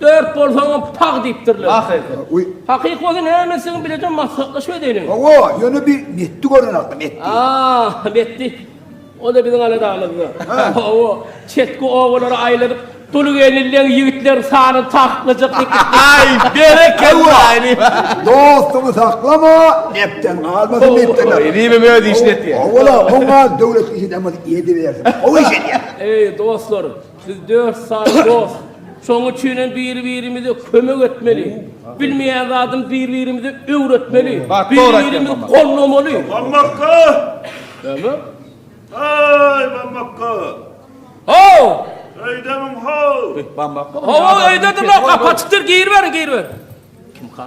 Dört bolsaňam putag diýipdirler. Hakyky. Hakyky bolsa näme etseňem bileje maslahatlaşyp edeliň. Hawa, ýöne bir metdi gören agdym, metdi. Aa, metdi. O-da biziň aladamyzda. Hawa, çetki obalary aýladyp, dulgelnileň ýigitlerin sanyny takyklajak ekeni. Aý, berekella! Dostuňy saklama, nepden galmasyn diýipdir. Hawa, nebem öz işini etýär. Hawa-la, oňa döwlet işi demez, edibersin. Gowy iş edýär. Eý, dostlar! Biz dört sany dost. Şoň üçin hem bir-birimize kömek etmeli. Bilmeýän zadymy bir-birimize öwretmeli. Bir-birimizi gollamaly. Bammakka! Näme? Aý, Bammakka! Haw! Öýdemiň haw! Bammakka? Hawa, öýdedimok. Gapy açykdyr. Giriberiň, giriberiň. Kim kal?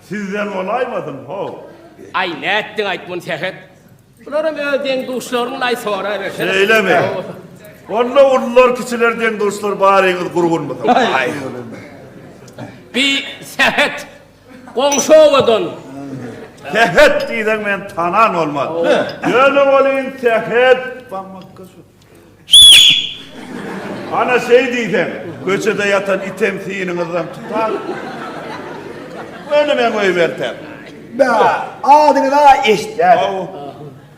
Sizden bolaýmasyn how. Aý nätdiň aýt muny Sähet. Bularam öz deň-duşlarynyňlaý sorabersene. Şeýlemi? Onda ulular kiçiler deň-duşlar baryňyz gurgunmyka. Bi Sähet goňşy obadan. Sähet diýseň men tanan bolman. Ýöne welin Sähet. Ana şey diýseň, köçede ýatan item synyňyzdan tutar. Öňüme goýberseň. Bä, adyňyza eşitýän. Aw.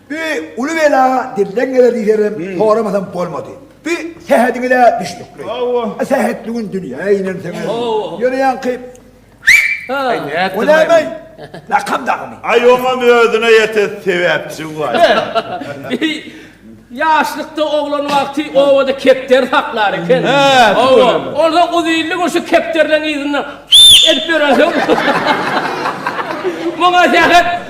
Bi uly bela dilden geler diýseňem, soramasam bolmady. Bi sähediňize düşnükli. Aw. Sähetli gün dünýä inen sen. Aw. Ýöne ýaňky O näme? Lakam dagymy? Aý oňam özüne ýete sebäpçi bar. Ýaşlykda oglan wagty obada kepderi saklar eken. Hawa, onda uzynly bir şu kepderleň yzyndan edip ýörensoň. Muňa zähmet.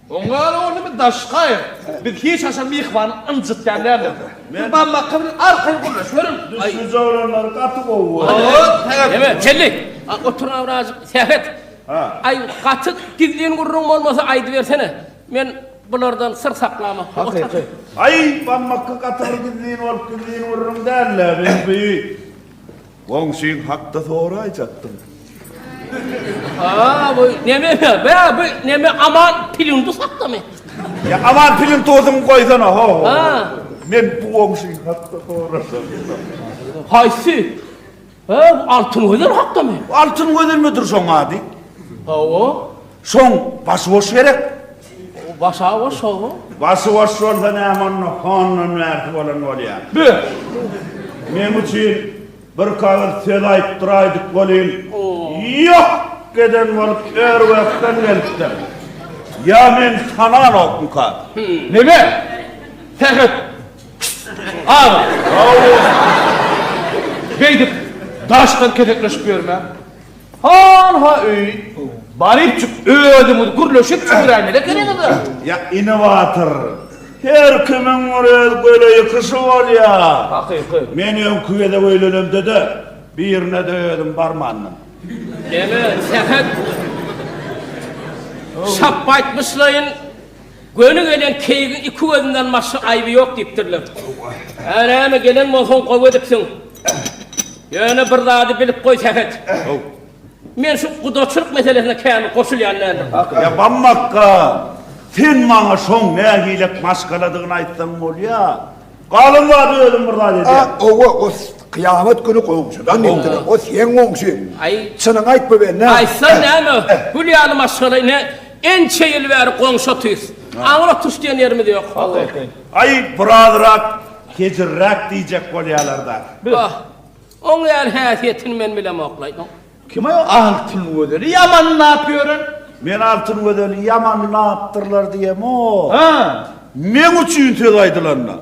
Oňa-da ol neme daş gaýyk. Biz hiç haçan myhmany ynjytýan däldiris. Siz barmakka biziň arkaýyn gürleşiweriň. Düşünje oglanlar gaty gowy bolupdyr. Ýeme, Çelli! Otur-a birazjyk, Sähet! Aý, gaty gizlin gürrüň bolmasa aýdybersene. Men bulardan syr saklaman. Hakyky. Aý, barmakka gaty bir gizlin bolup gizlin gürrüň däl-le, Bembi. Goňşyň hakda soraýjakdym. Aa, bu neme be? Be, bu neme Aman Pilindus hakdamy? Ýa Aman Pilintusyňy goýsana, ho. Aa. Men bu goňşyň hakda sorajakdym. Haýsy? Be, bu Altyn Gözel hakdamy? Altyn Gözelmidir şoň ady? Hawa. Şoň başy boş gerek. Başa boş şoň. Başy boş bolsa näme onda hondan bärsi bolan bolýa. Bü. Meň üçin bir kagyz söz aýtdyraýdyk welin ýok geden bolup Örwekden gelipdir. Ýa men tananokmyka? Neme? Sähet. Aga. Hawa. Beýdip daşdan kesekleşip ýörme. Hanha öý, barypjyk özüňiz gürleşip çüwüräýmeli ekeniňiz-de. Ýa inowator, her kimiň bir öz göle ýykyşy bolýar. Hakyky. Men öňki gezek öýlenemde-de birine-de özüm barmandym. Eme, Sähet, şapbaýtmyşlaýyn. Göni gelen keýigiň iki gözünden başga aýby ýok diýipdirler. Hä, näme, gelen bolsaň gowy edipsiň. Ýöne bir zady bilip goý, Sähet. Men şu gudaçylyk meselesine kämil goşulýan däldirin. Ýa, Bammakga, sen maňa şoň nähilek maşgaladygyny aýtsaň bolýa. Galan zady özüm bir zat edýän. A owa o kyýamat güni goňşydan ýetdiler. O seň goňşy. Aý. Çynyňy aýt bu bende. Aýtsan näme? Gül ýaly maşgala ine ençe ýyl bäri goňşy otyrys. Aňyr oturyş diýen ýerimiz ýok. Aý birazrak hezilräk diýjek bolýalar dagy. Bah. Oň ýaly häsiýetini men bilemok laý. Kim o Altyn Gözeli ýamanlap ýören? Men Altyn Gözeli ýamanlapdyrlar diýemok. Meň üçin söz aýdylanda.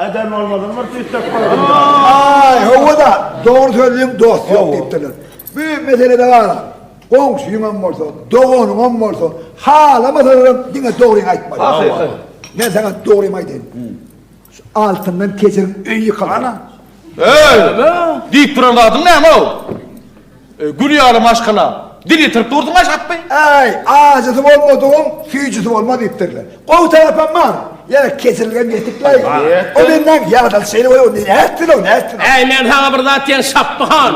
Eden bolmadyň bir tüýsek bolanda. Aý, hawa-da, dogry sözlüň dost ýok diýipdirler. Bu meselede garaz, goňşyňam bolsa, doganyňam bolsa, halamasalar hem diňe dogryňy aýtmaly. Hakykat. Men saňa dogrymy aýdaýyn. Şu altyndan kejiriň öýi ýykylar. Ana. Eý! Diýip duran zadyň näme-ow? Eý, gül ýaly maşgala, dil ýitirip durduň aşakmy? Eý, ajysy bolmadygyň süýjüsi bolmaz diýipdirler. Gowy tarapam bar. Ýa-da kejirilgem ýetikläý. O menden ýadaly şeýle bolýar, nätsin-ow, nätsin-ow. Äý, men saňa bir zat diýen Şapby han.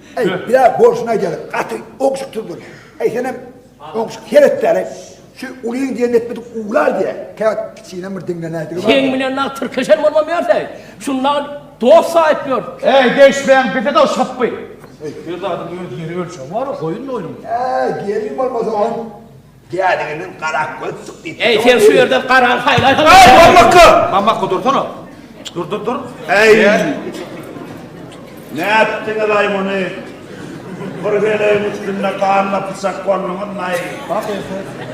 Eý, bile bolşuna gelip, gaty ogşuksyzdyr. Eý, senem ogşuk seretdäl-eý. Şu ulyň diýen etmedik uwlar diýä, käwagt kiçinem bir diňlenäýdigi bar. Seň bilen dagy tirkeşen bolmam ýörsäý. Şunda dost saýyp ýör. Eý, degişmäň, bize-de şapby. Her zadyň öz ýeri-ölçegi bar-a, goýun-moýnuň. Eý, gelin bolmasa oň Däliginiň garak göz syk diýip. Eý sen şu ýerden garan haýlaý. Aý Mamakka! Mamakka dursana. Dur dur dur. Eý. Nätdiňiz aý muny? Bir heleýiň üstünde ganly pyçak bolduňyzmy aý? Bak ýa sen.